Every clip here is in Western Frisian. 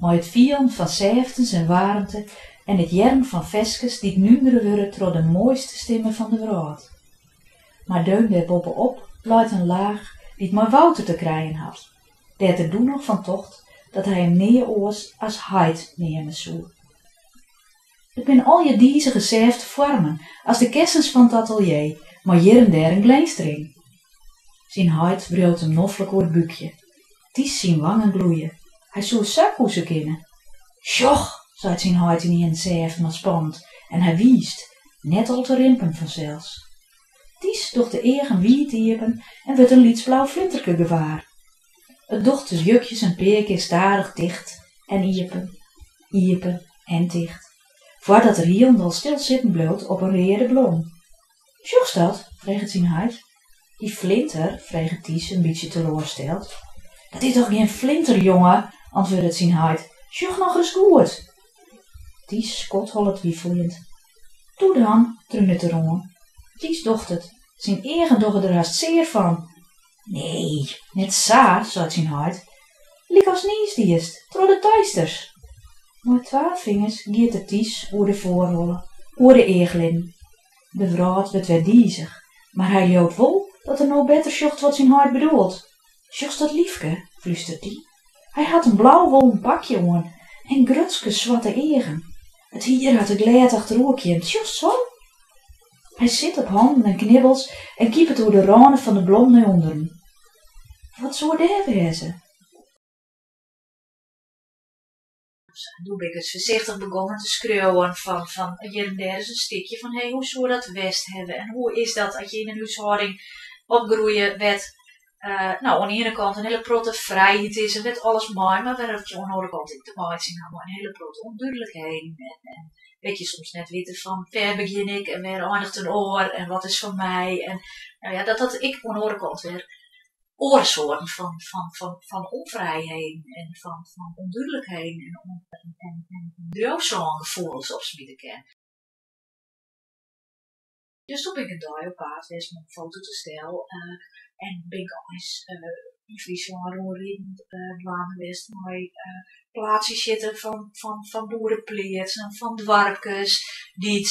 mei it fielen fan sêftens en waarmte en it hearren fan ferskes dy't núndere wurde troch de moaiste stimme fan de wrâld. Mar deun dêrboppe-op leit in laach dy't mei Wouter te krijen hat, dêr't er doe noch fan tocht dat hy him nea oars as heit neame soe. It binne allegear dizige sêfte foarmen as de kessens fan it atelier mei hjir en dêr in glinstering. Syn heit wriuwt him noflik oer it búkje. Ties syn wangen gloeie. Hy soe sa koese kinne. Sjoch! seit syn heit ynienen sêft mar spannend en hy wiist, net al te rimpen fansels. Ties docht de eagen wiid iepen en wurdt in lyts blau flinterke gewaar. It docht de wjukjes in pear kear stadich ticht en iepen, iepen en ticht, foardat er hielendal stil sitten bliuwt op in reade blom. Sjochst dat? freget syn heit. Dy flinter? freget Ties in bytsje teloarsteld. Dat is dochs gjin flinter, jonge, antwurdet syn heit. Sjoch noch ris goed! Ties skodhollet wifeljend. Toe dan, trunet er oan. Ties docht it. Syn eagen dogge der hast sear fan. Nee, net sa, seit syn heit. Lykast niis diest, troch de teisters! Mei twa fingers giet er Ties oer de foarholle, oer de eachlidden. De wrâld wurdt wer dizich, mar hy leaut wol dat er no better sjocht wat syn heit bedoelt. Sjochst dat lyfke? flústert dy. Hy hat in blau wollen pakje oan en grutske swarte eagen. It hier hat er glêd achteroer kjimd, sjochst sa? Hy sit op hannen en knibbels en kipet oer de râne fan de blom nei ûnderen. Wat soe dêr wêze? doe ben ik it foarsichtich begongen te skriuwen fan fan hjir en dêr ris in stikje fan hé hoe soe dat west hawwe en hoe is dat as je yn in húshâlding opgroeie wêr't no oan 'e iene kant in hiele protte frijheid is en wêr't alles mei mar wêr't je oan 'e oare kant ek te meitsjen ha mei in hiele protte ûndúdlikheden en wêr't je soms net witte fan wêr begjin ik en wêr eindigt in oar en wat is fan my en no ja dat dat ek oan 'e oare kant wer oare soarten fan fan fan fan ûnfrijheden en fan fan ûndúdlikheden en en en en driuwsângefoelens opsmite kin. Dus doe bin ik in dei op paad west mei in fototastel en bin ik eins yn Fryslân rûnridend dwaande west mei plaatsjes sjitte fan fan fan boerepleatsen, fan doarpkes dy't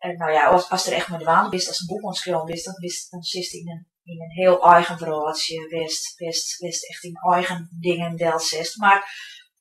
En nou ja, as, as der echt mei dwaande bist, as in boek oan it skriuwen bist, dan, bist, dan sitst yn in, yn in heel eigen wrâldsje, wêrst, wêrst, wêrst echt dyn eigen dingen delsetst. Mar,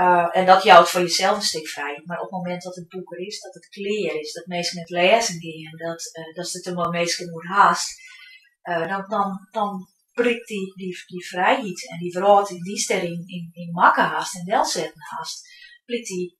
uh, en dat jout foar jesels in stik frijheid. Mar op it momint dat it boek der is, dat it klear is, dat minsken it lêzen geane, dat, uh, datst it der mei minsken oer hast, uh, dan, dan, dan prikt dy, dy, dy frijheid en dy wrâld dy'tst deryn yn, yn makke hast en delsetten hast, prikt dy